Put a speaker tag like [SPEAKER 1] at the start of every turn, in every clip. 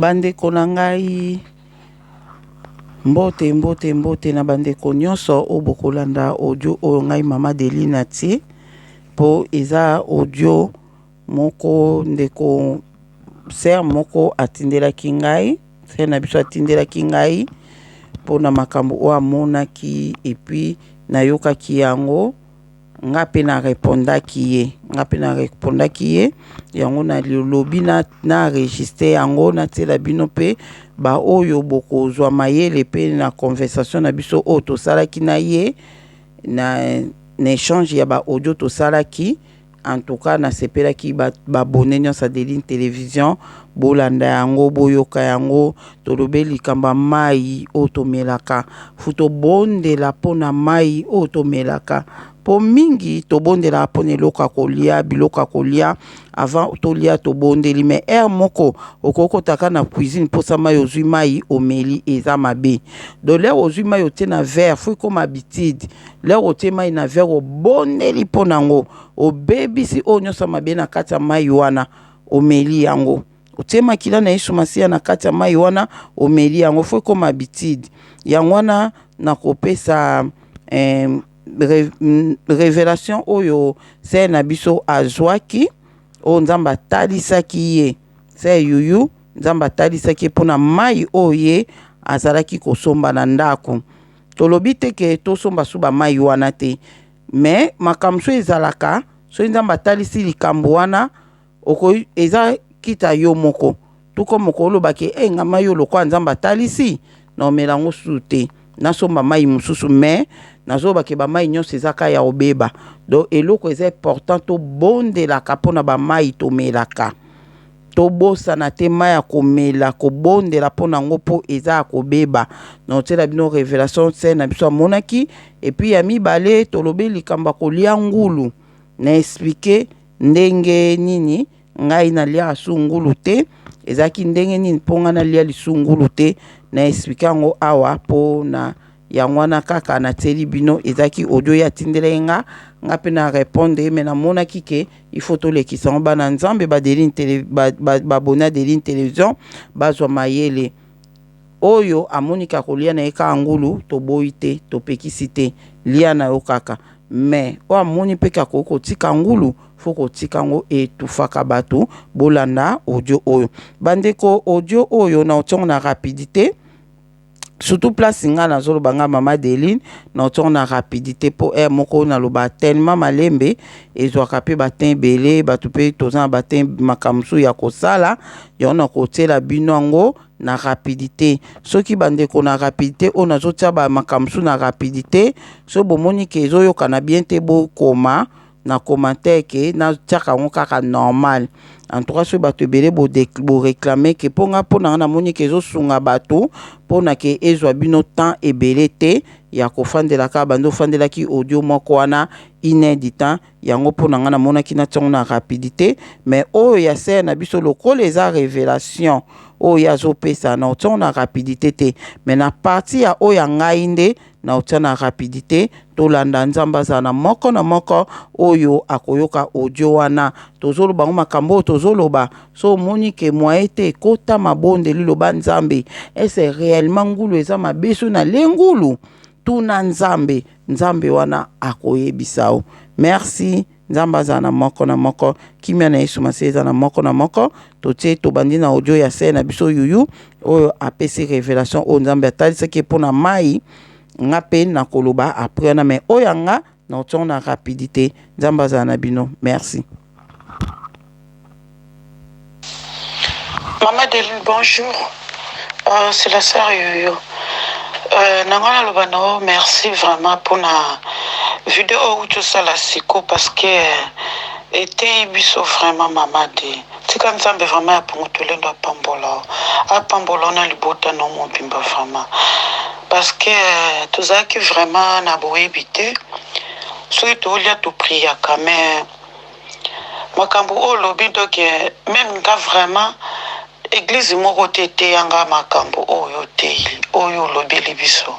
[SPEAKER 1] Bandeko na ngai, mbote mbote mbote na bandeko nyonso oyo bokolanda audio oyo ngai mama Deli natie mpo eza audio moko ndeko ser moko atindelaki ngai ser na biso atindelaki ngai mpo na makambo oyo amonaki epuis nayokaki yango Nga pe na repondaki ye, nga pe na repondaki ye, yango na lobi na na enregistre yango na tiela bino pe ba oyo bokozwa mayele pe na conversation na biso oyo tosalaki na ye na na echange ya ba audio tosalaki en tout cas na sepelaki ba abonnes nionso ya Delin television bolanda yango boyoka yango Tolobe likambo ya mayi oyo tomelaka. Faut tobondela mpo na mayi oyo tomelaka. Mpo mingi tobondelaka mpo na eloko ya kolia, biloko ya kolia avant tolia tobondeli mais heure moko okoki kotaka na cuisine mposa mayi ozwi mayi omeli eza mabe. Donc l'heure ozwi mayi otie na verre faut ekoma habitude. L'heure otie mayi na verre obondeli mpo na yango obebisi oyo nyonso ya mabe na kati ya mayi wana omeli yango. otie makila na Yesu Masiya na kati ya mai wana, omeli yango fo ekoma habitude. Yango wana nakopesa eh, re, mm, revelation oyo sere na biso azwaki oyo Nzambe atalisaki ye sere yuyu Nzambe atalisaki ye mpo na mai oyo ye azalaki kosomba na ndako. Tolobi te ke tosomba suba mai wana te, me makambo so ezalaka soki Nzambe atalisi likambo wana oko eza kita yo moko tout comme oko loba ke eh nga mayi oyo lokola nzambe atalisi na omela yango susu te na somba mayi mususu mais nazo loba ke ba mayi nionso eza ka ya obeba donc eloko eza important to bondelaka pona ba mayi tomelaka tobosana te mayi ya komela kobondela pona yango po eza ya kobeba na otiela bino revelation se na biso amonaki epuis ya mibale tolobi likambo ya kolia ngulu na explique ndenge nini ngai na liaka su ngulu te ezalaki ndenge nini mpo ngai na lia lisu ngulu te na explique yango awa mpo na yango wana kaka na tieli bino ezalaki audio ya tindelaki nga nga mpe na répondre ye mais na monaki ke il faut tolekisa yango bana nzambe ba deline tele ba, ba, ba bona deline television bazwa mayele Oyo amoni ke akolia na ye kaka ngulu, toboyi te, topekisi te, lia na yo kaka. Mais, oyo amoni pe ke akoki kotika ngulu, faut kotika yango, etouffaka batu. Bolanda audio oyo. Ba ndeko, audio oyo, nakotia yango na rapidite, surtout place nga nazoloba, nga Mama Adeline, nakotia yango na rapidite po heure moko nalobaka tellement malembe, ezuaka pe ba temps ebele, batu pe toza na ba temps, makambo mosusu ya kosala, yango nakotiela bino yango. na rapidite soki bandeko na rapidite oyo nazotia ba makambo mosusu na rapidite soki bomoni ke ezoyokana bien te bokoma na commentaire ke natiaka yango kaka normal en tout cas soki bato ebele boreclame ke mpo nga mpo na nga namoni ke ezosunga bato mpo na ke ezwa bino temps ebele te ya kofandela kaka bando ofandelaki audio moko wana une heure du temps yango pona nga namonaki na tiongo na rapidite mais oyo ya sœur na biso lokola eza revelation oyo ye azopesa na otiongo na rapidite te mais na partie ya oyo ya ngai nde na otia na rapidite tolanda nzambe azala na moko na moko oyo akoyoka audio wana tozoloba ngo makambo oyo tozoloba so omoni ke moye te kota mabondeli loba nzambe ese reellement ngulu eza mabe so na le ngulu Tuna nzambe nzambe wana akoyebisa yo merci nzambe azala na moko na moko kimia na yesu masiya eza na moko na moko totie tobandi na audio ya sœur na biso yuyu oyo apesi revelation oyo nzambe atalisaki ye mpo na mai nga mpe nakoloba après wana mais oyo yanga Non tsor na rapidite nzambe azala na bino merci.
[SPEAKER 2] Maman de lune bonjour c'est la soeur yoyo na nga na loba na yo merci vraiment pona video oyo uti osala siko parce que eteyi biso vraiment mama de tika nzambe vraiment ya pongo tolendo apambola yo apambola yo na libota na yo mobimba vraiment Parce que tozalaki vraiment na boyebi te soki tolia to priaka mais makambo oyo olobi donc meme nga vraiment eglize moko te eteya nga makambo oyo oteyi oyo olobeli biso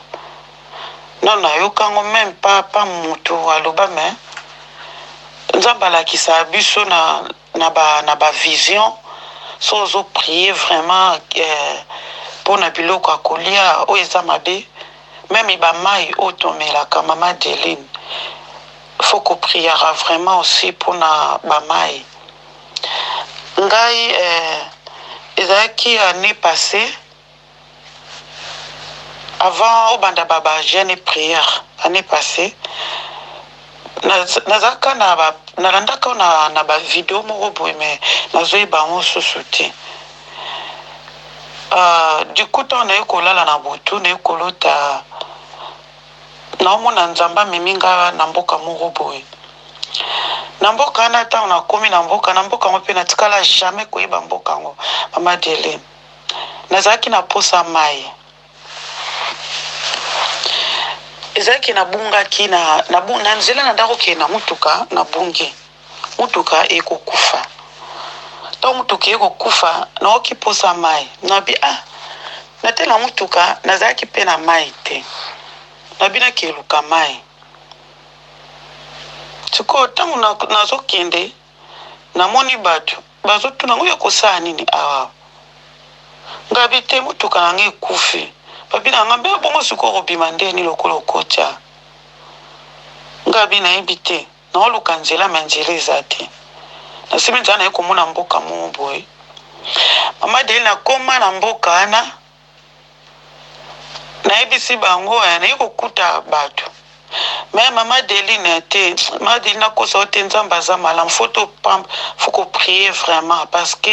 [SPEAKER 2] non nayoka yango meme pa pa motu aloba mais nzambe alakisa biso na naba naba vision soki ozo prier vraiment eh, pona biloko ya kolia oyo eza mabe meme ba mayi oyo tomelaka mama Adeline faut ko priaka vraiment aussi pona ba mayi ngai eh, ezalaki annee passee Avant obanda ba ba jeune et prière annee passee naza ka na ba na landa ka na na ba video moko boye mais nazo yeba yango susu te du coup tant naye kolala na butu naye kolota naomona nzambe amemi nga na mboka moko boye na mboka wana ntango nakomi na mboka na mboka yango mpe natikala jamais koyeba mboka yango mama delin Nazalaki na mposa ya mai. Ezalaki, nabungaki na, na, na nzela na ndako kokende na motuka, nabungi. Motuka eye kokufa. Ntango motuka eye kokufa, naoki mposa ya mai. Nabi, ah, natela motuka, nazalaki mpe na mai te. Nabi nakeluka mai. Sikoyo, ntango nazokende, namoni bato. Bazo tuna ngo yako sala nini awa ngabi te mutuka na nga ekufi babi na nga mbe bongo sikoyo oko bima ndeni lokola okoti awa ngabi na yebi te nao luka nzela me nzela eza te na simbi nzela na ye komona mboka moko boye mama deli na koma na mboka wana nayebisi bango eh, naye kokuta batu mais mama Adeline eh, te mama Adeline akosa yo te nzambe aza malamu faut to pamba faut ko prier vraiment parce que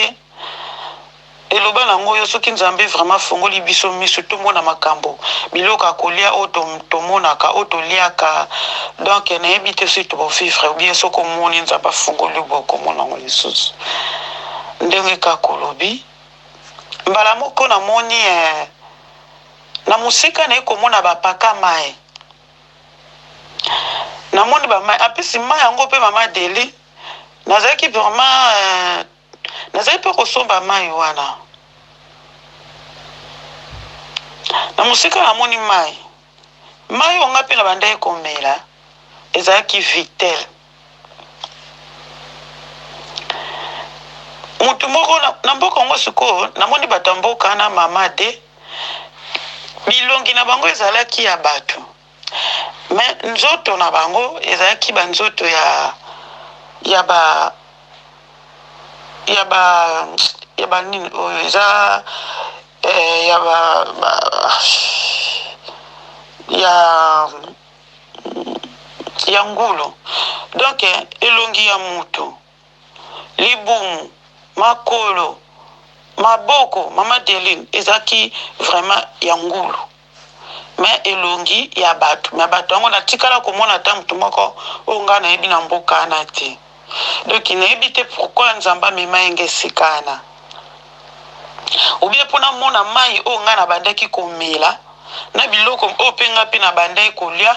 [SPEAKER 2] eloba nango yo soki nzambe vraiment afongoli biso miso tomona makambo biloko ya kolia oyo tomonaka oyo toliaka donc nayebi te soki tobovivre obien soki omoni nzambe afongoli bokomona yango lisusu ndenge kaka olobi mbala moko na moni eh Na mosika na ye ko mona ba paka mayi Na moni ba mayi apesi mayi yango pe mama Deli Na zalaki vraiment eh Na zalaki pe ko somba mayi wana Na mosika na moni mayi Mayi oyo nga pe na bandaki ko mela ezalaki vitel motu moko na, na mboka yango sikoyo namoni bato ya mboka na mama de bilongi na bango ezalaki ya bato me nzoto na bango ezalaki banzoto ya ya ba ya ba ya banini oyo eza eh, ya ba, ba ya ya ngulu donc elongi ya mutu, libumu, makolo, maboko maman Adeline ezalaki vraiment ya ngulu mais elongi ya batu mais batu yango natikala komona ata mutu moko oyo nga nayebi na mboka wana te. Ndoki nayebi te pourquoi nzambe amema ye nga esika wana ou bien po namona mayi oyo nga nabandaki komela na biloko oyo pe nga pe nabandaki kolia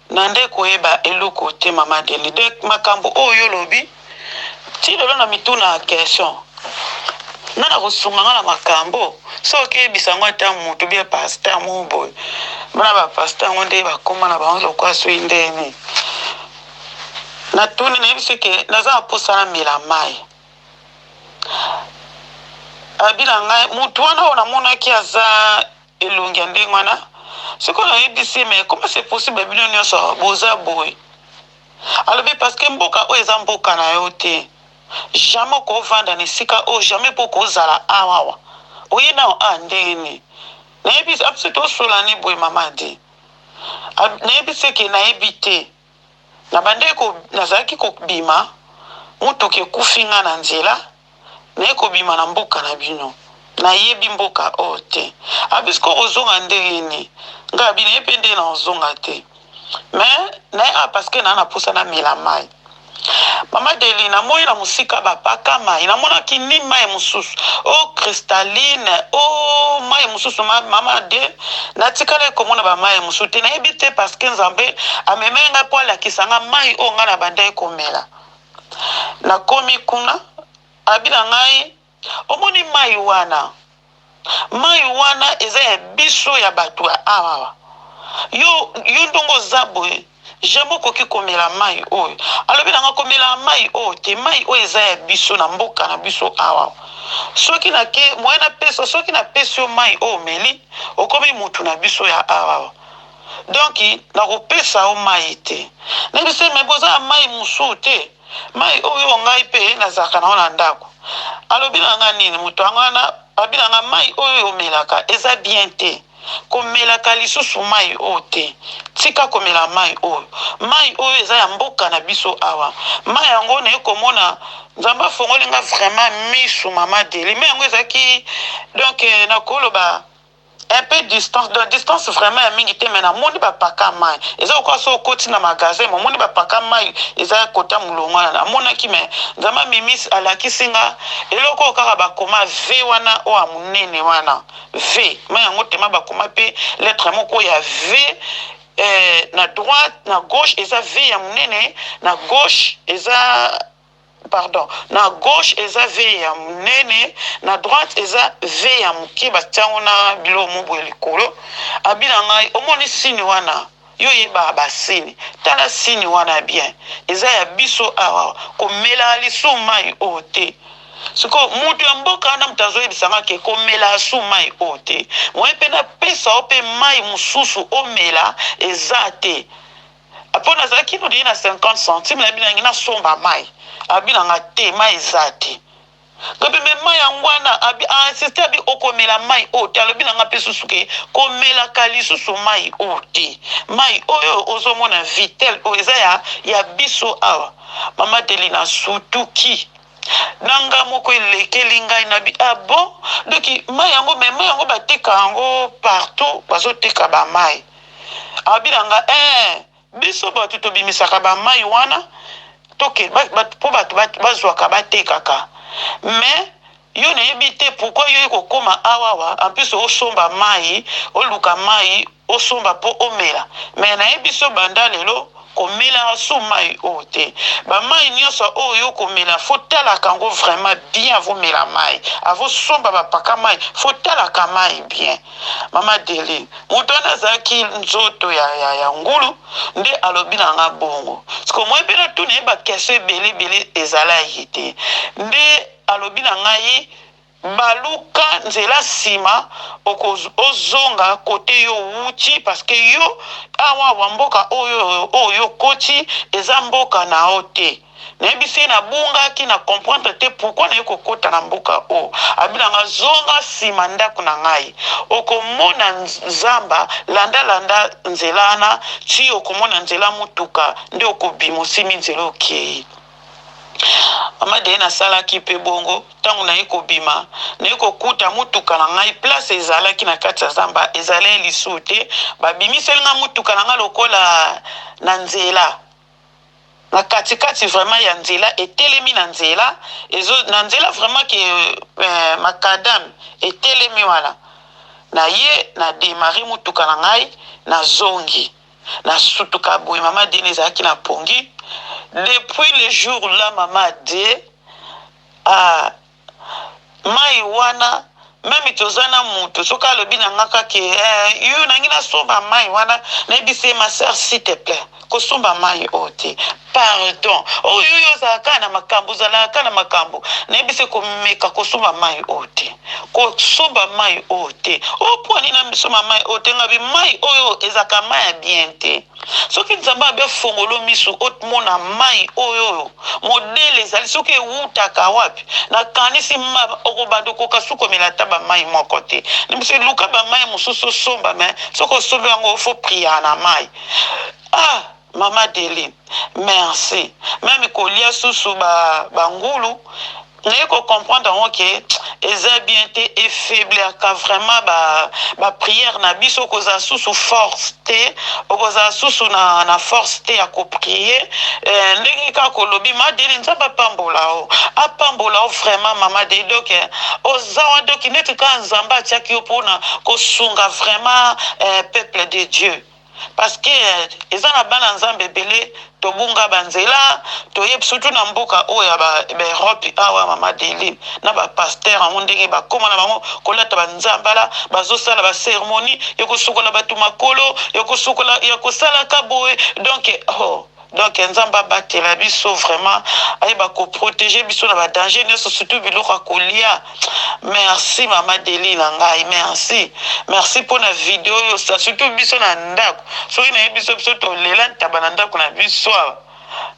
[SPEAKER 2] nande koyeba eloko te mama Adeline donc makambu oyo yo olobi ti lelo na mituna question nga nakosunga nga na makambu soki okeyebisa ngo ata mutu bien pasteur moko boye bana ba pasteur yango nde bakoma na bango lokola soki ndeni Na tuni na yebiso ke naza na posa na mela mayi alobi na ngai mutu wana oyo na monaki aza elongi ya ndenge wana siko na yebisi mais comment c'est possible bino nionso boza boye alobi parce que mboka oyo eza mboka na yo te jamais okovanda na esika oyo jamais po okozala awawa oye nao a ah, ndenge nini na yebisi abiso ah, tosolani boye mama adi Ab, nayebisi ye ke nayebi te. Nabandaki ko, nazalaki kobima, motuka ekufi ngai na nzela, naye kobima na mboka na bino. Nayebi mboka oyo te. Abi, sikoyo okozonga ndenge nini? Ngai abi, nayebi pe ndenge nakozonga te. Mais, naye, ah, parce que naa naposa namela mayi. Maman Delly na moni na mosika ba paka mayi na monaki ni mayi mususu oh cristalline ooh mayi mususu ma maman de na tikalaki ko mona ba mayi mususu te na yebi te parce que nzambe a memeli nga po a lakisa nga mayi oyo nga na bandaki ko mela na komi kuna a lobi na ngai Omoni mayi wana? Mayi wana eza ya biso ya batu ya awa. Yo, yo ndongo oza boye, jamais okoki komela mayi oyo. Alobi na nga komelaka mayi oyo te, mayi oyo eza ya biso na mboka na biso awa. Soki na ke, moyen na pesa, soki na pesi yo mayi oyo omeli, okomi mutu na biso ya awa. Donc, na kopesa yo mayi te. Nayebi se mais boza na mayi mususu te? Mai oyo ngai mpe nazalaka na yango na ndako. Alobi na ngai nini? Moto yango wana alobi na ngai, Mai oyo omelaka eza bien te. Komelaka lisusu mai oyo te. Tika komela mai oyo. Mai oyo eza ya mboka na biso awa. Mai yango naye komona Nzambe afongoli ngai vraiment misu mama Deli. Mai yango ezalaki donc eh, nakoloba Un peu distance donc distance vraiment ya mingi te mais na moni ba paka mayi eza lokola soki okoti na magasin mais omoni ba paka mayi eza kota mulongo wana na monaki mais nzambe amimis alakisi nga eloko oyo kaka ba koma ve wana oyo ya munene wana ve mayi yango tema ba koma pe lettre moko ya ve eh, na droite na gauche eza ve ya munene na gauche eza pardon na gauche eza vieille ya munene na droite eza vieille ya muke batia yango na biloko moko boye likolo abi na ngai omoni sini wana yo oyebaka basini tala sini wana bien eza ya biso awa komelaka lisusu mai oyo te sikoyo moto ya mboka wana moto azoyebisa nga ke komelaka su mai oyo te moye mpe napesa yo mpe mai mosusu omela eza te apo nazalaki no deyi na 50 centime nayebi nangi nasomba mai abi nanga te mai eza te ngabi me mai yango wana abi ainsiste abi okomela mai oyo te alobi nanga mpe susu ke komelaka lisusu mai oyo te mai oyo ozomona vitel oyo eza ya ya biso awa mama delina sutuki na nga moko elekeli ngai na bi ah bon doki mai yango me mai yango bateka yango partout bazoteka bamai Alobi na nga ee biso batu tobimisaka ba mayi wana toke po batu bazwaka batekaka mais yo nayebi te pourquoi yo kokoma awawa en plus osomba mayi oluka mayi osomba po omela mais nayebi biso banda lelo Komelaka sous mayi oyo te. Ba mayi nionso oyo yo okomela fo talaka yango vraiment bien avo mela mayi. Avo somba ba paka mayi fo talaka mayi bien. Mama Adeline mutu wana azalaki nzoto ya ya ngulu nde alobi na nga bongo. Sikoyo moi pe natuna ye ba question ebele ebele ezalaki te nde alobi na ngai Baluka nzela sima oko ozonga cote yo owuti parce que yo awa awa mboka oyo oyo yo okoti eza mboka na yo te nayebisi ye na bungaki na comprendre te pourquoi naye kokota na mboka oyo alobi na nga zonga sima ndaku na ngai okomona zamba landa landa nzela wana ti okomona nzela mutuka nde okobima osimbi nzela okeyi. Mama de nasalaki pe bongo tango naye kobima naye kokuta mutuka na ngai place ezalaki na kati ya zamba ezalai lisusu te babimiseli ngai mutuka na ngai lokola na nzela na katikati vraiment ya nzela etelemi na nzela ezo na nzela vraiment ke eh, makadam etelemi wana na ye na demare mutuka na ngai na zongi Na sutuka boye mama Dieu ne zalaki na pongi depuis le jour là mama Dieu a mayi wana meme toza na mutu soki alobi na nga kaka eh, yo nangi nasomba mayi wana nayebisi ye ma sœur s'il te plaît kosomba mayi oyo te Pardon oh yo yo ozalaka kaka na makambu ozalaka kaka na makambu nayebi se komeka kosomba mayi oyo te kosomba mayi oyo te oh pua nini na misomba mayi oyo te ngabi mayi oyo ezalaka mayi ya bien te soki nzambe abi ofongolo misu otmona mayi oyo oyo modele ezali soki ewutaka wapi na kanisi ma okobanda okoka su komela ata ba mayi moko te na biso luka ba mayi mosusu osomba me soki osombi yango ofo priya na mayi ah Maman Adeline merci meme kolia susu ba ba ngulu naye ko comprendre yango ke eza bien te e faiblir ka vraiment ba ba prière na biso okozala susu force te okozala susu na na force te ya ko prier eh, ndenge kaka olobi ma Adeline nzambe apambola yo apambola yo vraiment maman Adeline donc eh, oza wana donc neti kaka nzambe atiaki yo pona kosunga vraiment eh, peuple de Dieu Parce que eza na bana nzambe ebele tobunga ba nzela toyebi surtout na mboka oyo ya ba Europe awa maman Adeline na ba pasteur yango ndenge bakoma na bango kolata ba nzambala bazosala ba ceremonies ya kosukola batu makolo ya kosukola ya kosalaka boye donc hoo Donc nzambe abatela biso vraiment ayeba ko proteger biso na ba danger nioso surtout biloko ya kolia merci mama Deli na ngai merci merci pona video oyo sa surtout biso na ndako soki nayebi biso biso tolela ntaba na ndako na biso awa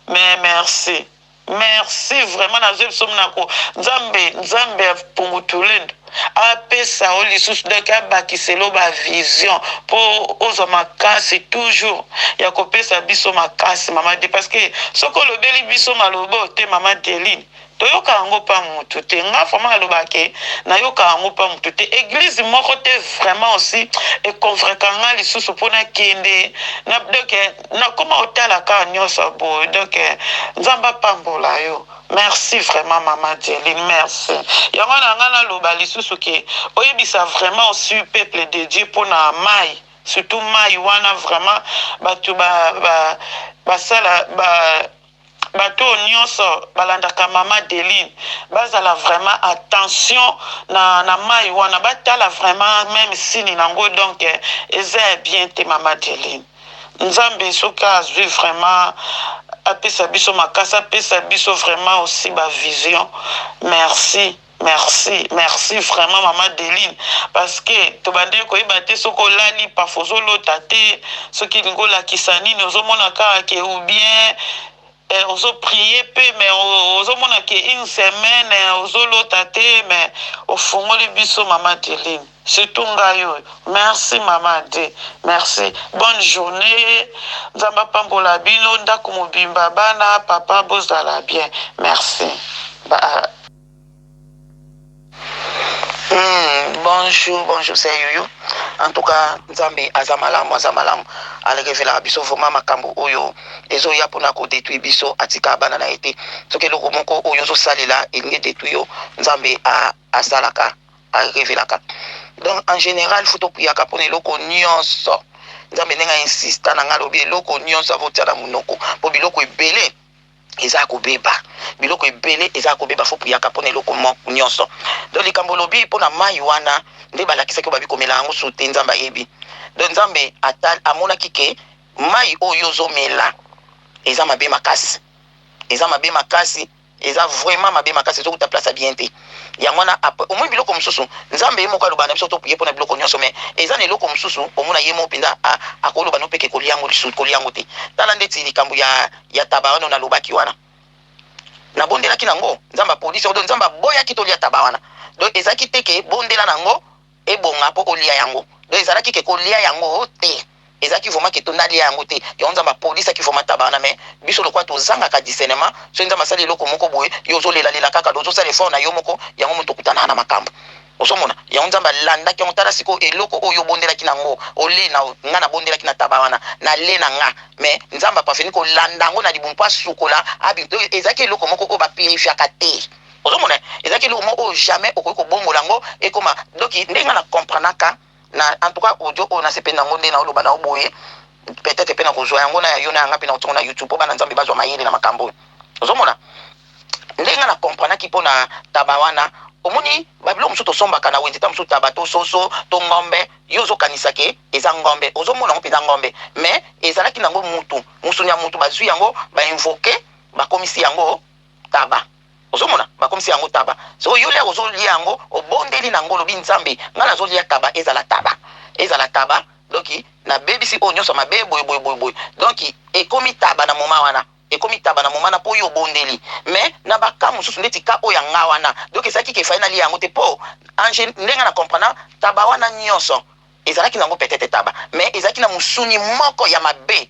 [SPEAKER 2] mais merci Merci vraiment na zwe biso minako nzambe nzambe ya pungutulendo apesa yo lisusu donc abakiselo ba vision po ozwa makasi toujours ya kopesa biso makasi mama de parce que soki olobeli biso malobo te mama deline toyoka yango pa mutu te nga vraiment naloba ke nayoka yango pa mutu te eglise moko te vraiment aussi econvreka nga lisusu mpo nakende na donc nakoma otala ka nioso boye donc nzambe apambola yo merci vraiment maman dieline merci yango wana ngai naloba lisusu ke oyebisa vraiment osi peuple de dieu pona mayi surtout mayi wana vraiment batu ba ba basala ba Bato oyo nionso balandaka maman Adeline bazala vraiment attention na na mayi wana batala vraiment meme sini na ngo donc eza ya bien te maman Adeline nzambe soki azui vraiment apesa biso makasi apesa biso vraiment aussi ba vision merci. Merci merci vraiment maman Deline parce que tobandaki koyeba te soki olali parfois ozolota te soki elingi olakisa nini ozomona kaka ke ou bien eh, ozo prier pe mais ozomona ke une semaine eh, ozolota te mais ofungoli biso maman Deline Surtout ngai oyo. Merci maman Ade. Merci. Bonne journee nzambe apambola bino ndaku mobimba bana papa bozala bien merci ba. Hum bonjour bonjour c'est youyou en tout cas nzambe aza malamu aza malamu alekevelaka biso vraiment makambo oyo ezoya pona ko detruire biso atika bana na ye te soki eloko moko oyo ozosalela elingi detruire yo nzambe asalaka a revelaka donc en general faut tokuyaka pona eloko nionso nzambe ndenge a insista nanga alobi eloko nionso avo tia na munoko po biloko ebele eza kobeba biloko ebele eza kobeba faut puyaka pona eloko moko nionso donc likambo olobi pona mayi wana nde balakisaki obabi komela yango su te nzambe ayebi donc nzambe atal amonaki ke mayi oyo ozomela eza mabe makasi eza mabe makasi Eza vraiment mabe makasi ezo kuta place ya bien te yango wana après omoni biloko mususu nzambe ye moko aloba na biso to prier pona biloko nionso mais eza na eloko mususu omona ye moko penza a akoloba no peke kolia ngo lisusu kolia ngo te tala ndeti likambo ya ya taba wana na lobaki wana nabondelaki na ngo nzambe apolisi yango donc nzambe aboyaki tolia taba wana donc ezalaki te ke bondela na ngo ebonga po olia yango donc ezalaki ke kolia yango te ezalaki vraiment ke to nalia yango te yango nzambe apolisaki vraiment tabana mais biso lokola tozangaka discernement soki nzambe asali eloko moko boye yo ozolela lela kaka donc ozosala effort na yo moko yango moto okutanaka na makambo ozomona yango nzambe alandaki yango tala sikoyo eloko oyo obondelaki na yango ole na nga nabondelaki na taba wana na le na nga mais nzambe apafeni kolanda yango na libumu mpo asukola abi donc ezalaki eloko moko oyo bapurifiaka te Ozo mona eza ki eloko moko oyo jamais okoki ko bongola yango ekoma donc nde nga na comprenaka na en tout cas audio oyo na sepeli na ngo nde na oloba na oboye peut être pe na kozwa yango na yo na yanga pe na otongo na YouTube po bana nzambe bazwa mayele na makambo oyo ozo mona nde nga na comprenaka ki pona taba wana omoni babilo mosusu tosombaka na wenze ta mosusu taba to soso to ngombe yo ozokanisa ke eza ngombe ozomona yango mpenza ngombe mais ezalaki nango mutu musuni ya mutu bazwi yango bainvoke bakomisi yango taba Ozo mona ba komisi yango taba sikoyo yo lia ozo lia yango obondeli na ngo olobi nzambe nga nazo lia taba ezala taba ezala taba donc na bebisi oyo nionso mabe boye boye boye boye donc ekomi taba na moment wana ekomi taba na moment wana po yo obondeli mais na ba cas mususu ndeti cas oyo ya nga wana donc ezalaki ke fallait na lia yango te po en gen ndenge nga na comprena taba wana nionso ezalaki na ngo peut etre taba mais ezalaki na musuni moko ya mabe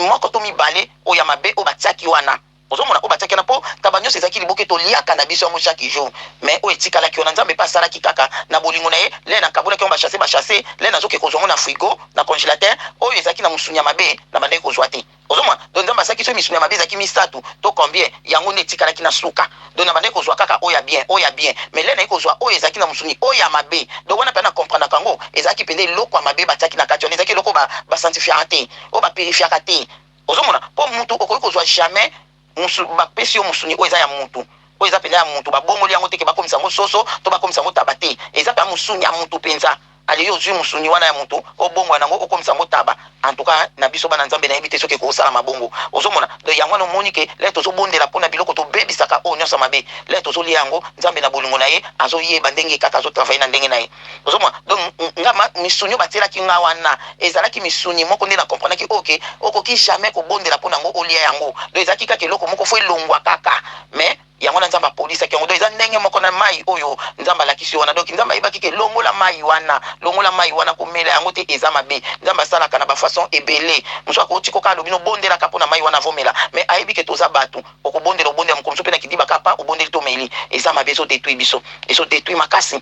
[SPEAKER 2] moko to mibale oyo ya mabe oyo ba tiaki wana Ozo mona
[SPEAKER 3] oyo batiaki wana po taba nionso ezalaki liboke to liaka na biso yango chaque jour mais oyo etikalaki wana nzambe pe asalaki kaka na bolingo naye lait na kabolaki yango ba chasse ba chasse lait nazo ke kozua yango na frigo na congelateur oyo ezalaki na musuni ya mabe na bandaki kozua te ozo mona donc nzambe asalaki soki misuni ya mabe ezalaki misatu to combien yango nde etikalaki na suka donc na bandaki kozua kaka oyo ya bien oyo ya bien mais lait naye kozua oyo ezalaki na musuni oyo ya mabe donc wana pena na comprenaka yango ezalaki penza eloko ya mabe batiaki na kati wana ezalaki eloko oyo ba ba sanctifiaka te oyo ba purifiaka te. Ozo mona po mutu okoki kozua jamais musu ba pesi yo musuni oyo eza ya mutu oyo eza penza ya mutu ba bongoli yango te ke ba komisa yango soso to ba komisa yango taba te eza penza musuni ya mutu penza ale yo ozui musuni wana ya mutu obongola nango okomisa yango taba en tout cas na biso bana nzambe na yebi te soki eko salama bongo ozo mona donc yango wana omoni ke lè tozo bondela pona biloko to bebisaka oyo nionso ya mabe lè tozo lia yango nzambe na bolingo na ye azo yeba ndenge kaka azo travailler na ndenge na ye Ozo mona? Donc nga ma misuni oyo ba tielaki nga wana ezalaki misuni moko nde na comprenaki oyo ke okoki jamais ko bondela pona ngo olia yango donc ezalaki kaka eloko moko faut elongua kaka mais yango wana Nzambe apolisaki yango donc eza ndenge moko na mayi oyo Nzambe alakisi yo wana donc Nzambe ayebaki ke longola mayi wana longola mayi wana komela yango te eza mabe Nzambe asalaka na ba façon ebele mosusu ako tika kaka alobi no bondela kaka pona mayi wana avo mela mais ayebi ke toza batu oko bondela obondela mokolo mosusu pe na kidiba kaka pa obondeli to meli eza mabe ezo detruit biso ezo detruit makasi.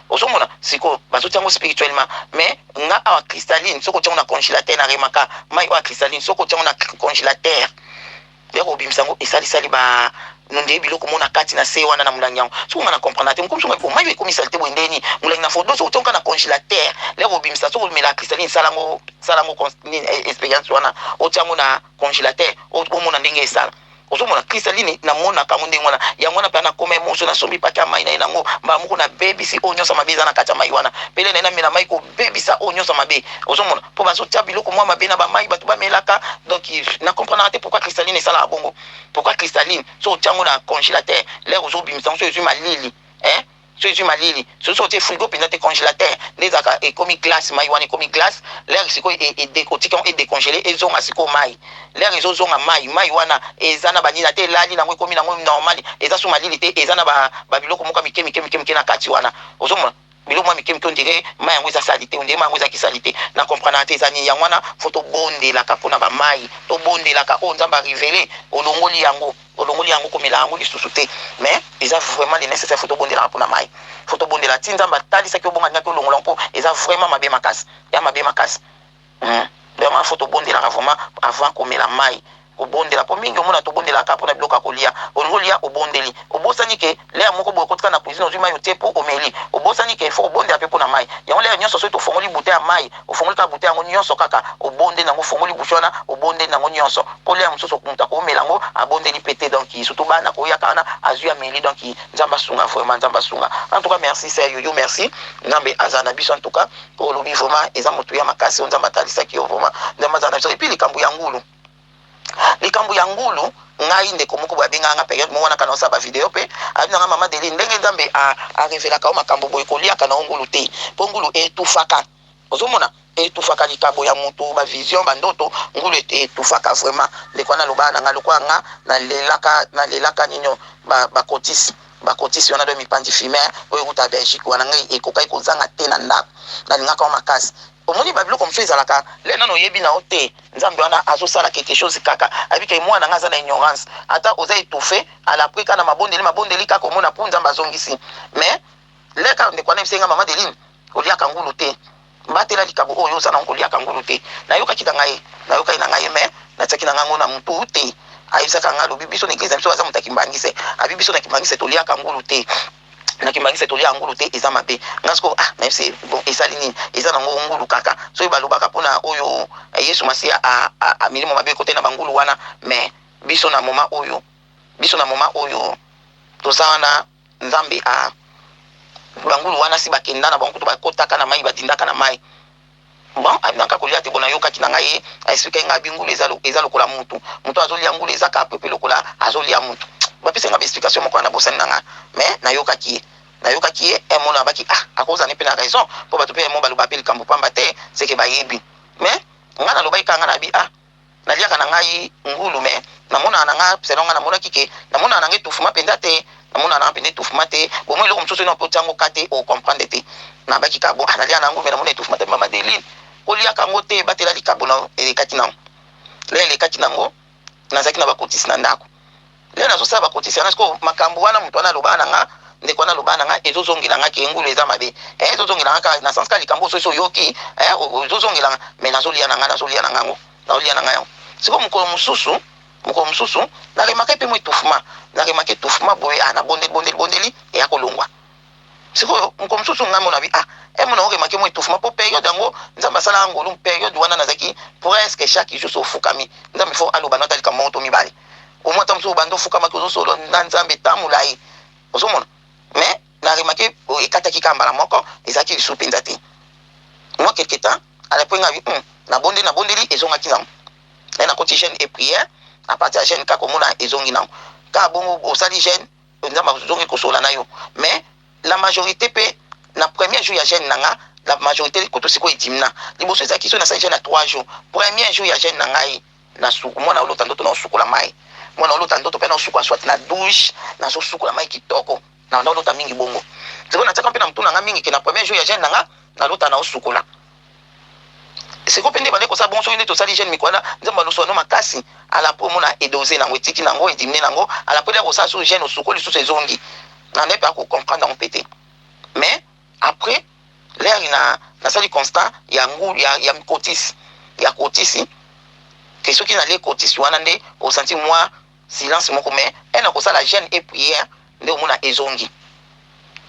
[SPEAKER 3] Ozo mona sikoyo bazo tia ngo spirituellement mais nga awa cristalline soki otie ngo na congelateur na remaka mayi oyo ya cristalline soki otie ngo na congelateur ya kobimisa ngo esalisali ba nonde biloko mona kati na se wana na mulangi yango soki nga na comprendre te mokomi soki mayi ekomi salite boye nde nini mulangi na fodo soki otie ngo na congelateur ya kobimisa soki omela cristalline sala ngo sala ngo eh, experience wana otie ngo na congelateur omona ndenge esala Ozo mona Christaline na monaka yango ndenge wana yango wana mpe na koma emotion na sombi paquet ya mayi na ye na ngo mbala moko na bebisi oyo nionso ya mabe eza na kati ya mayi wana pele na ye na mela mayi ko bebisa oyo nionso ya mabe ozo mona mpo bazo tia biloko mwa mabe na ba mayi batu ba melaka donc na comprenaka te pourquoi Christaline esalaka bongo pourquoi Christaline soki otia ngo na congelateur lere ozo bimisa ngo soki ezui malili eh Soki ezui malili soki soki otie frigo penza te congelateur nde ezalaka ekomi glace mayi wana ekomi glace l'heure sikoyo e, e, de, otika yango e decongele ezonga sikoyo mayi l'heure ezozonga mayi mayi wana eza na banini ata elali nango ekomi nango normal eza su malili te eza na ba, ba biloko moko mike mike mike mike na kati wana ozomona biloko mwa mike mike ondire mayi yango eza salite ondire mayi yango eza kisalite na comprenaka te eza nini yango wana fo tobondelaka mpo na bamayi tobondelaka oyo oh, nzambe arivele olongoli yango Olongoli yango komela yango lisusu te mais eza vraiment le necessaire faut tobondelaka pona mayi faut tobondela ti nzambe atalisa ki obonga naki olongola mpo eza vraiment mabe makasi ya mabe makasi hum vraiment faut tobondelaka vraiment avant komela mayi kobondela mpo mingi omona tobondelaka mpona biloko ya kolia olingi olia obondeli obosani ke L'heure moko boye okotika na cuisine ozui mayi otie po omeli obosani ke il faut obondela pe pona mayi yango l'heure nionso soki tofongoli bouteille ya mayi ofongoli kaka bouteille yango nionso kaka obondeli nango ofongoli bouche wana obondeli nango nionso po l'heure mususu mutu akomela yango abondeli pe te donc surtout bana akoya kaka wana azui ameli donc nzambe asunga vraiment nzambe asunga en tout cas merci sœur youyou merci nzambe azala na biso en tout cas oyo olobi vraiment eza motuya makasi oyo nzambe atalisaki yo vraiment nzambe azala na biso et puis likambo ya ngulu Likambo ya ngulu, ngai ndeko moko boye abengaka nga periode moko wana kaka naosala ba video pe alobi na nga maman Adeline ndenge Nzambe a a revelaka yo makambo boye koliaka na yo ngulu te po ngulu e etouffaka ozo mona e etouffaka likabo ya mutu ba vision ba ndoto ngulu e etouffaka vraiment ndeko wana alobaka na nga lokola nga na lelaka na lelaka ninio ba ba cotis ba cotis wana do mipanzi fumer oyo ewuta Belgique wana ngai ekokaki kozanga te na ndako nalingaka yo makasi Omoni ba biloko mosusu ezalaka le nanu oyebi na yo te nzambe wana azo sala quelque chose kaka ayebi ke mwana nga aza na ignorance ata oza etouffe à la prix kaka na mabondeli mabondeli kaka omona pu nzambe azongisi mais le kaka ndeko wana ayebisaki nga maman Deline koliaka ngulu te batela likabo oyo oza na yango koliaka ngulu te nayokaki na ngai nayokaki na ngai mais natiaki na ngai yango na mutu te ayebisaka ngai alobi biso na eglise na biso aza moto ya kimbangiste abi biso na kimbangiste toliaka ngulu te nakimaki se tolia ngulu te eza mabe nga sikoyo ah nayebi se bon esali nini eza nango ngulu kaka soki balobaka mpona oyo eh, yesu masiya milimo mabe ekote na bangulu wana mais biso na moma oyo biso na moma oyo toza wana nzambe a bangulu wana si bakenda na bango kutu bakotaka na mai badindaka na mai Bon alingaka kolia te bon nayokaki na ngai a expliquaki ngai abi ngulu eza eza lokola mutu mutu azo lia ngulu eza ka pepe lokola azo lia mutu ba pesa nga ba explication moko na bosani na nga mais nayokaki ye nayokaki ye un mot na baki ah akoza ne pe na raison po batu pe un mot baloba pe likambo pamba te seke bayebi mais nga na lobaki ka nga na bi ah Na liaka na ngai ngulu mais na monaka na nga selon nga na monaki que na monaka na nga etouffement penza te na monaka na nga penza etouffement te au moins eloko mosusu soki otia yango cas te o comprendre te na baki kaka bon ah na liaka na ngulu mais na mona etouffement te maman Adeline ko liaka yango te batela likabo na yo elekaki na ngo na elekaki na ngo nazalaki na ba kotisi na ndako Nde nazo sala ba kotisi yanga sikoyo makambu wana mutu wana aloba nanga ndeko wana aloba nanga ezo zongela nga ke ngulu eza mabe eh ezo zongela nga ka na sens ka likambu oso so yoki eh ozo zongela nga mais nazo lia nanga nazo lia nanga ngo nazo lia nanga yango sikoyo mukolo mususu mukolo mususu na remake pe mo etouffement na remake etouffement boye ah na bondeli bondeli bondeli eya kolongwa Sikoyo mokolo mosusu ngai mona bi ah eh mona oke make mwa etouffement po periode yango nzambe asala nga ngolu periode wana nazaki presque chaque jour so fukami nzambe fo aloba na ta likambo moko to mibale au moins ta mosusu bande ofukamaki ozo solo na nzambe ta molayi ozo mona mais na remake oh, ekataki ka mbala moko ezalaki lisu mpenza te mwa quelque temps alapo ngai hmm, na bonde na bondeli ezongaki nango eh, na koti jeune et prière à partir ya jeune kaka omona ezongi nango kaka bongo osali jeune Penza ma zongi ko solola nayo mais la majorite pe na premier jour ya jeune na nga la majorite kutu sikoyo edimina liboso ezalaki soki nasali jeune ya 3 jour premier jour ya jeune na ngai na suku mwana olota ndoto na osukola mai mwana olota ndoto pe na osukola soit na douche na zo sukola mai kitoko na olota mingi bongo sikoyo na tsaka pe na mutuna nga mingi ke na premier jour ya jeune na nga na lota na osukola Sikoyo pe nde ebandaki kosala bongo soki nde tosali jeune mikuana nzambe alusu ano makasi alapui omona edose nango etiki nango edimine nango alapui nde akosala su jeune osuko lisusu ezongi na nde pe ako comprendre yango pe te mais après l'heure na nasali constat ya ngu ya, ya mikotisi ya kotisi ke soki nale kotisi wana nde osanti mwa silence moko mais ena kosala jeune et prière nde omona ezongi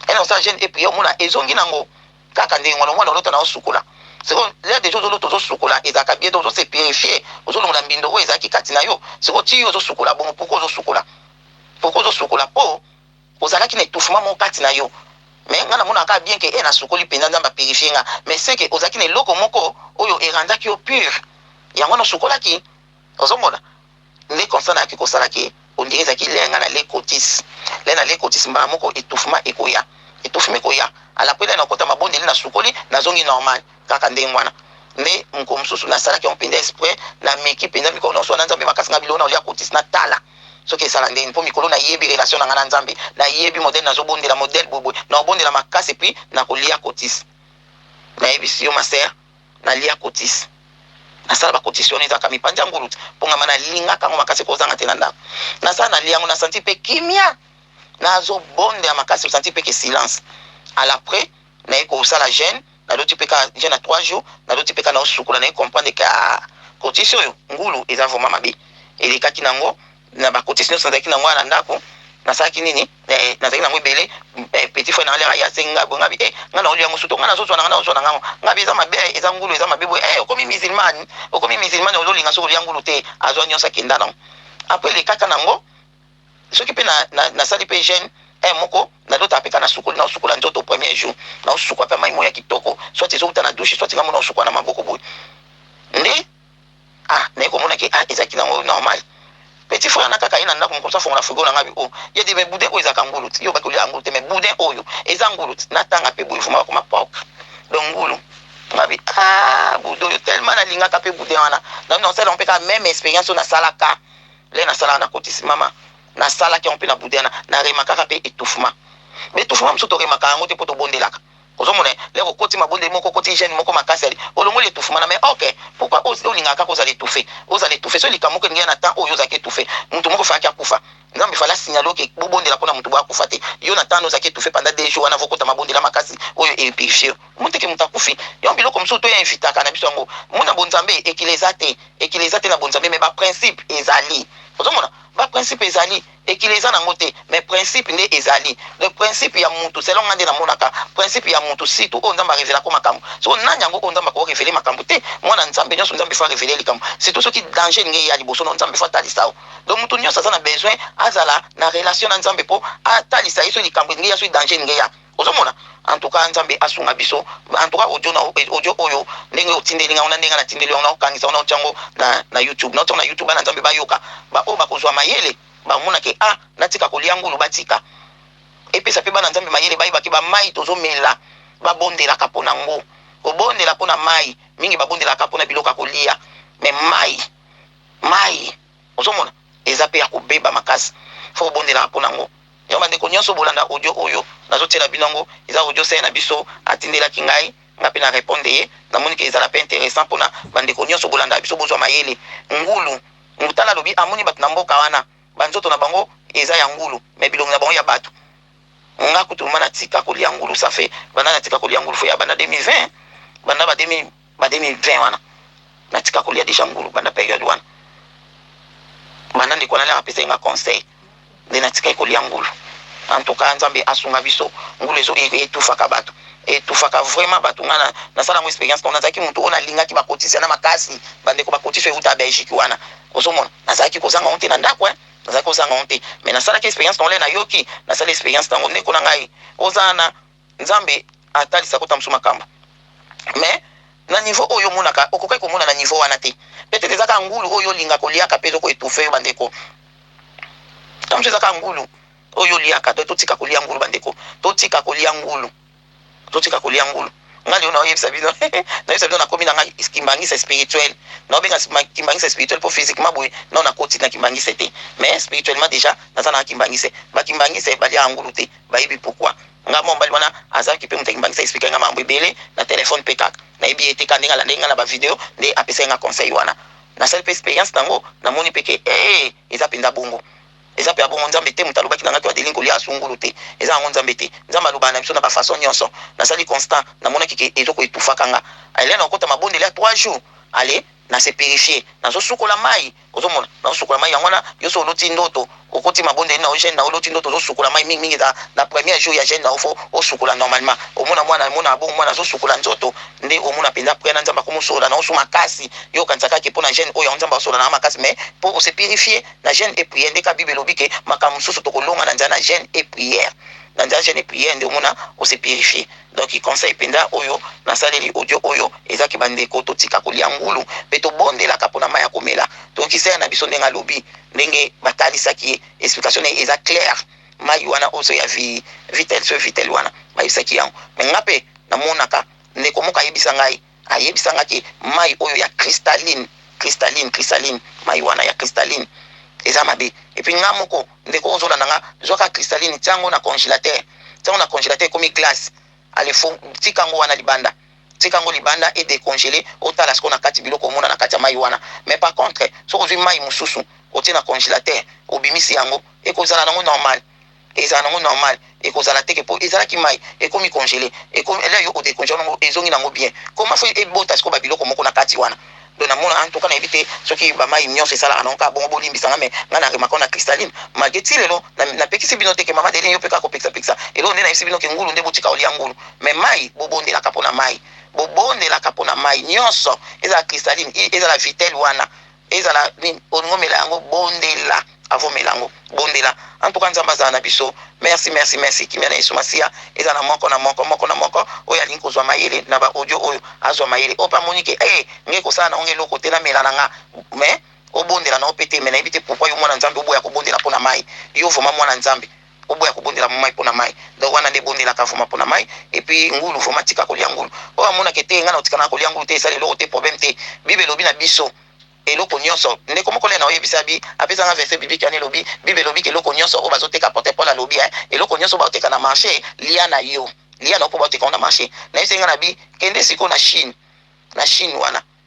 [SPEAKER 3] ena kosala jeune et prière omona ezongi nango Kaka ndenge wana omona olota nao sukola sikoyo l'air dejà ozolota ozosukola ezalaka bien donc ozose purifier ozolongola mbindo oyo ezalaki kati na yo sikoyo ti yo ozosukola bongo pourquoi ozosukola pourquoi ozosukola po ozalaki na etouffement moko kati na yo mais nga namonaka kaka bien ke e nasukoli mpenza nzambe apurifie nga mais ce ke ozalaki na eloko moko oyo erandaki yo pure yango wana osukolaki ozomona Nde comme ça nayaki kosala ke on dirait ezalaki lait ya nga na lait cotis. Lait na lait cotis mbala moko etouffement ekoya. Etouffement ekoya. A la pele nakota mabondeli nasukoli nazongi normal. Kaka ndenge wana. Nde mokolo mosusu nasalaki yango penza exprès nameki penza mikolo nionso wana Nzambe makasi nga biloko nao lia cotis natala soki esala ndenge nini po mikolo nayebi relation na nga na Nzambe nayebi modèle nazo bondela modèle boye boye nao bondela makasi epuis nako lia cotis. Nayebisi yo ma sœur. Na lia cotisse na sala ba cotisse wana ezalaka mipanzi ya ngulutu pongama na lingaka yango makasi ekozanga te na ndaku na sala na lia yango na sentir pe kimia na zo bonde ya makasi sentir pe ke silence à la près na ye ko sala jeune na loti pe ka jeune na 3 jours na loti pe ka na osukula na ye comprendre ke ah cotisse oyo ngulu eza vraiment mabe elekaki na ngo Na ba cotises nionso nazalaki na yango wana na ndaku, nasalaki nini? Eh, nazalaki na yango ebele. Eh, petit frère na nga lere aye asengi nga boye, nga bi, eh, nga naolia yango sutu, nga nazo zua na nga, nazo zua na nga ngo. Nga bi, eza mabe eh, eza ngulu, eza mabe boye. Eh, okomi musulmane, okomi musulmane, ozo linga soki olia ngulu te? Azua nionso akenda na ngo. Après le kaka na ngo, soki pe na, na, nasali pe jeune, eh, moko, nalota pe ka nasukoli, nao sukola nzoto premier jour, nao sukwa pe mayi moko ya kitoko, soit ezo wuta na douche, soit nga moko nao sukwa na maboko boye. Nde. Ah naye komona ke ah ezalaki nango normal petit frère na kaka ye na ndako mokomsa fongola frigo na nga bi o oh. ye di me boudin oyo ezalaka ngulu ti yo baki olia ngulu te me boudin oyo eza ngulu ti natanga mpe boye vuma bakoma propre donc ngulu nga bi ah boudin oyo tellement nalingaka mpe boudin wana na bino nasala mpe kaka meme expérience oyo nasalaka le nasalaka na kotisi mama nasalaki yango mpe na boudin na na remakaka mpe etouffement mais etouffement mosusu toremakaka yango te mpo tobondelaka Ozo mona eh lere okoti mabondeli moko okoti jeune moko makasi ali olongoli etouffement mais ok pourquoi o lingaka kaka ozala etouffe ozala etouffe soki likambo moko elingi eya na temps oyo yo ozalaki etouffe mutu moko fallaki akufa nzambe fallait a signaler yo ke bo bondela pona mutu boye akufa te yo na temps wana ozalaki etouffe pendant deux jours wana vo kota mabondela makasi oyo e purifier yo mute ke mutu akufi donc biloko mususu to invitaka na biso yango muna bo nzambe ekila eza te ekila eza te na bo nzambe mais ba principe ezali ozo mona ba principe ezali Ekili eza nango te mais principe nde ezali donc principe ya mutu selon nga nde na monaka principe ya mutu surtout oyo nzambe a revela ko makambu sikoyo nani yango oyo nzambe ako revele makambu te muana nzambe nionso nzambe faut a revele ye likambu surtout soki danger elingi eya liboso nayo nzambe faut atalisa yo donc mutu nionso aza na besoin azala na relation na nzambe po atalisa ye soki likambu elingi eya soki danger elingi eya. Ozo mona? En tout cas Nzambe asunga biso. En tout cas audio na yo, audio oyo ndenge otindeli nga ngo na ndenge nga na tindeli yo, nao kangisa ngo nao tia ngo na na YouTube. Nao tia ngo na YouTube bana Nzambe ba yoka. Ba oyo bako zua mayele ba mona ke ah na tika ko lia ngulu ba tika. Epesa pe bana Nzambe mayele ba yeba ke ba mayi tozo mela ba bondelaka pona ngo. Ko bondela pona mayi, mingi ba bondelaka pona biloko ya ko lia mais mayi, mayi. Ozo mona? Eza pe ya ko beba makasi. Faut obondelaka pona ngo. Donc ba ndeko nionso bolanda audio oyo nazo tiela bino yango eza audio sœur na biso atindelaki ngai nga pe na repondre ye na moni que ezala pe interessant pona ba ndeko nionso bolandaka biso bozua mayele. Ngulu mutala alobi amoni batu na mboka wana ba nzoto na bango eza ya ngulu mais bilongi na bango ya batu. Nga kutu vraiment natika kolia ngulu ça fait banda natika kolia ngulu faut ya banda 2020 banda ba 2000. Ba 2020 wana na tika kolia dejà ngulu banda periode wana banda ndeko wana nanga apesaki nga conseil nde na tikaki kolia ngulu en tout cas nzambe asunga biso ngulu ezo e, etufaka bato etufaka vraiment bato nga na nasala ngo experience mpo nazalaki moto oyo nalingaki bakotisa na makasi bandeko bakotisa euta belgique wana ozomona nazalaki kozanga honte na ndako eh nazalaki kozanga honte mais nasalaki experience nole nayoki nasala experience nango ndeko na ngai ozana Nzambe atalisa ko tambusu makambu mais na niveau oyo yo omonaka okokaki komona na niveau wana te peut etre eza kaka ngulu oyo olinga koliaka pe ezoko etouffe yo bandeko tambusu eza kaka ngulu oyo oliaka donc totika kolia ngulu bandeko totika kolia ngulu totika kolia ngulu nga lelo naoyebisa bino nayebisa bino nakomi na ngai kimbangisa spirituel naobenga kimbangisa spirituel mpo physiquement boye nao nakoti na kimbangisa te mais spirituellement déjà naza na kimbangisa bakimbangisa balia ngulu te Bayebi pourquoi nga mua mobali wana azalaki pe moto ya kimbangisa expliquaki nga makambo ebele na telephone pe kaka nayebi ye te kaka ndenge alandaki nga na ba video nde apesaki nga conseil wana nasali pe experience nango namoni pe ke eeh eza penza bongo eza pe ya bongo nzambe te moto alobaki na nga ke adeline kolia asu ngulu te eza yango nzambe te nzambe alobaka na biso na ba façon nionso nasali constant namonaki ke ezo ko etouffaka nga Helène okota mabondeli ya trois jours allez na se purifier nazo sukola mayi Ozo mona nazo sukola mayi yango wana yoso oloti ndoto okoti mabondeli na yo jeune na yo oloti ndoto ozo sukola mayi mingi mingi eza na première jour ya jeune na yo faut osukola normalement omona mwana mona ya bongo mwana azo sukola nzoto nde omona penza prière na nzambe akomi solola na yo su makasi yo okanisa kaka ke pona jeune oyo yango nzambe azo solola na nga makasi mais po ose purifier na jeune et prière nde ka bible elobi ke makambo mosusu toko longa na nzela na jeune et prière na nzela jeune et prière nde omona ose purifier Donc conseil penza oyo na saleli audio oyo eza ke ba ndeko to tika ko lia ngulu pe to bondelaka pona mayi ya ko mela. Donc Isaia na biso ndenge alobi ndenge ba talisaki ye explication na ye eza claire mayi wana ozo ya vi vitel soeur vitel wana ba yebisaki yango mais nga pe na monaka ndeko moko ayebisa ngai Ayebisa nga ke mayi oyo ya cristalline cristalline cristalline mayi wana ya cristalline eza mabe et puis nga moko ndeko ozo landa nga zua kaka cristalline tia ngo na congelateur tia ngo na congelateur ekomi glace allez fo tika ngo wana libanda tika ngo libanda e decongeler otala sikoyo na kati biloko omona na kati ya mayi wana mais par contre soki ozui mayi mususu otie na congelateur obimisi yango eko zala nango normal Ezala nango normal ekozala teke po ezalaki mayi ekomi congele ekomi elai yo ode congele nango ezongi nango bien koma fo ebota siko ba biloko moko na kati wana donc na mona en tout cas na yebi te soki ba mayi nionso esalaka nango kaka bongo bolimbisa nga mais nga na remaka na cristaline malgre ti lelo na na pekisi bino te ke mama Adeline yo pe kaka kopekisa pekisa eloko nde na yebisi bino ke ngulu nde botika kolia ngulu mais mayi bobondelaka pona mayi bobondelaka pona mayi nionso ezala cristaline ezala vitelle wana Ezala nini olingi omela yango bondela avant omela yango bondela en tout cas nzambe azala na biso merci merci merci kimia na yesu masiya eza na moko na moko moko na moko oyo alingi kozwa mayele na ba audio oyo azwa mayele ope amoni ke e eh, ngai kosala na onge eloko te namela na nga mais obondela na ope te me nayebi te pourkui yo mwana nzambe oboya kobondela mpo na mai yo vraimen mwana nzambe Oboya ko bondela mayi pona mayi donc wana nde bondelaka vraiment pona mayi et puis ngulu vraiment tika kolia ngulu oyo amona ke te nga nako tika nanga kolia ngulu te esali eloko te problème te bible elobi na biso eloko nioso ndeko moko lena oyebi sa bi apesa nga verse biblique wana elobi bible elobi ke eloko nioso oyo bazo teka apotre Paul alobi hein eloko nioso bao teka na marche lia na yo lia na yo po bao teka ngo na marche na ye senga na bi kende sikoyo na chine na chine wana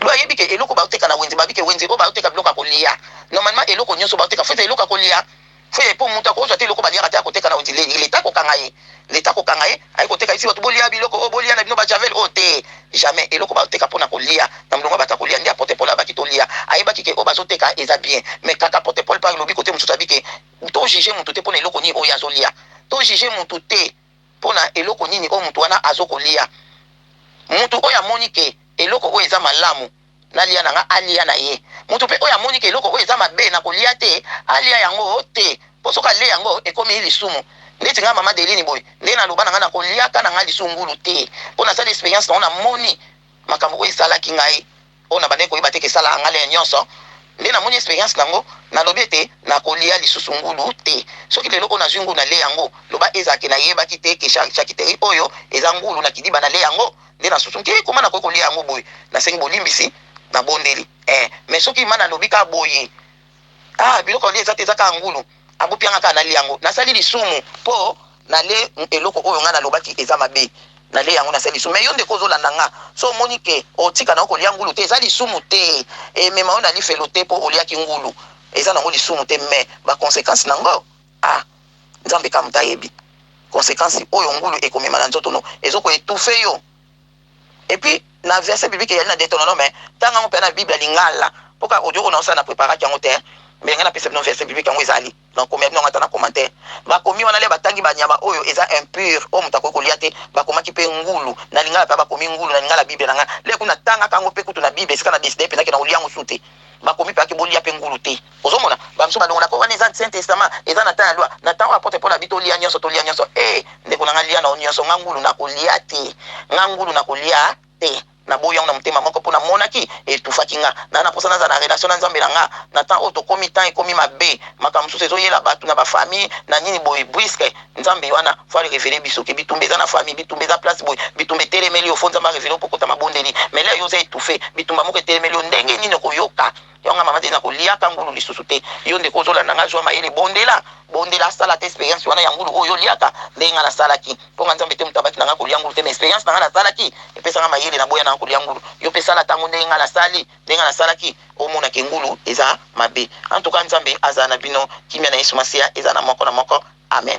[SPEAKER 3] Yo ayebi ke eloko bazo teka na wenze babi ke wenze oyo bazo teka biloko ya kolia normalement eloko nioso bazo teka faut ezala eloko ya kolia faut ezala po mutu akozua te eloko baliaka te akoteka na wenze l'etat akokanga ye l'etat akokanga ye aye koteka ayebisi batu bolia biloko oyo bolia na bino ba javel oyo te jamais eloko bazo teka pona kolia na mulongo ya batu ya kolia nde apotre Paul alobaki tolia ayebaki ke oyo bazo teka eza bien mais kaka apotre Paul pe alobi kote mususu abi ke to juge mutu te pona eloko nini oyo ye azolia to juge mutu te. Pona eloko nini oyo mutu wana azo kolia? Mutu oyo amoni ke eloko oyo eza malamu nalia na nga alia na ye. Mutu pe oyo amoni ke eloko oyo eza mabe na kolia te alia yango te po soki alie yango ekomi lisumu. Neti nga mama Adeline boye nde na loba na nga na koliaka na nga lisu ngulu te po nasali experience na ngo na moni makambo oyo esalaki ngai. Oyo na bandaki koyeba te ke sala nga lien nionso nde na moni experience nango na lobi ete na ko lia lisusu ngulu te soki lelo oyo na zui ngulu na lia yango loba ezala ke na yebaki te ke charcuterie oyo eza ngulu na kidiba na lia yango nde na susu nki koma na koki ko lia yango boye na sengi bolimbisi na bondeli eh mais soki ma na lobi ka boye Ah biloko na lie eza te eza kaka ngulu abupi yanga kaka nalia yango nasali lisumu po nale eloko oyo nga nalobaki eza mabe nale yango nasali lisumu mais yo ndeko ozolanda nga so omoni ke otika na yo kolia ngulu te eza lisumu te emema yo na lifelo te po oliaki ngulu eza nango lisumu te mais ba consequence nango ah nzambe kka moto ayebi consequence oyo ngulu ekomema na nzoto no ezo ko etouffe yo. Et puis na verset biblique eyali na Deuteronome, tanga yango pena na Bible ya lingala. Po kaka audio oyo naosala na preparaki yango te, mais ngai napesa bino verset biblique yango ezali. Nakokomela bino yango ata na commentaire. Bakomi wana le batangi ba nyama oyo eza impure, oyo moto akoki kolia te, bakomaki pe ngulu. Na lingala pena bakomi ngulu, na lingala Bible na ngai. Le kutu natangaka yango pe kutu na Bible esika na decidaki pena ke nakolia yango sou te. Bakomi pena ke bolia pe ngulu te. Ozo mona ba misusu ba longola ko wana eza ancien testament eza na temps ya loi na temps oyo apotre Paul alobi to lia nionso to lia nionso hee ndeko na nga lia na yo nionso nga ngulu na ko lia te nga ngulu na ko lia te na boyi yango na motema moko po na monaki e touffaki nga na na posa na zala na relation na nzambe na nga na temps oyo to komi temps e komi mabe makambo misusu ezo yela batu na ba famille na nini boye buisque nzambe wana faut a revele biso ke bitumba eza na famille bitumba eza place boye bitumba e telemeli yo faut nzambe a revele yo ko kota mabondeli mais là yo oza etouffe bitumba moko e telemeli yo ndenge nini oko yoka Yo nga maman te na ko liaka ngulu lisusu te yo ndeko ozo landa nga zua mayele bondela bondela asala te experience wana ya ngulu oyo yo liaka ndenge nga na salaki po nga nzambe te mutu abaki na nga ko lia ngulu te mais experience na nga na salaki epesa nga mayele na boya na nga ko lia ngulu yo pe sala tango ndenge nga na sali ndenge nga na salaki omona ke ngulu eza mabe en tout cas nzambe azala na bino kimia na yesu masiya ezala na moko na moko amen.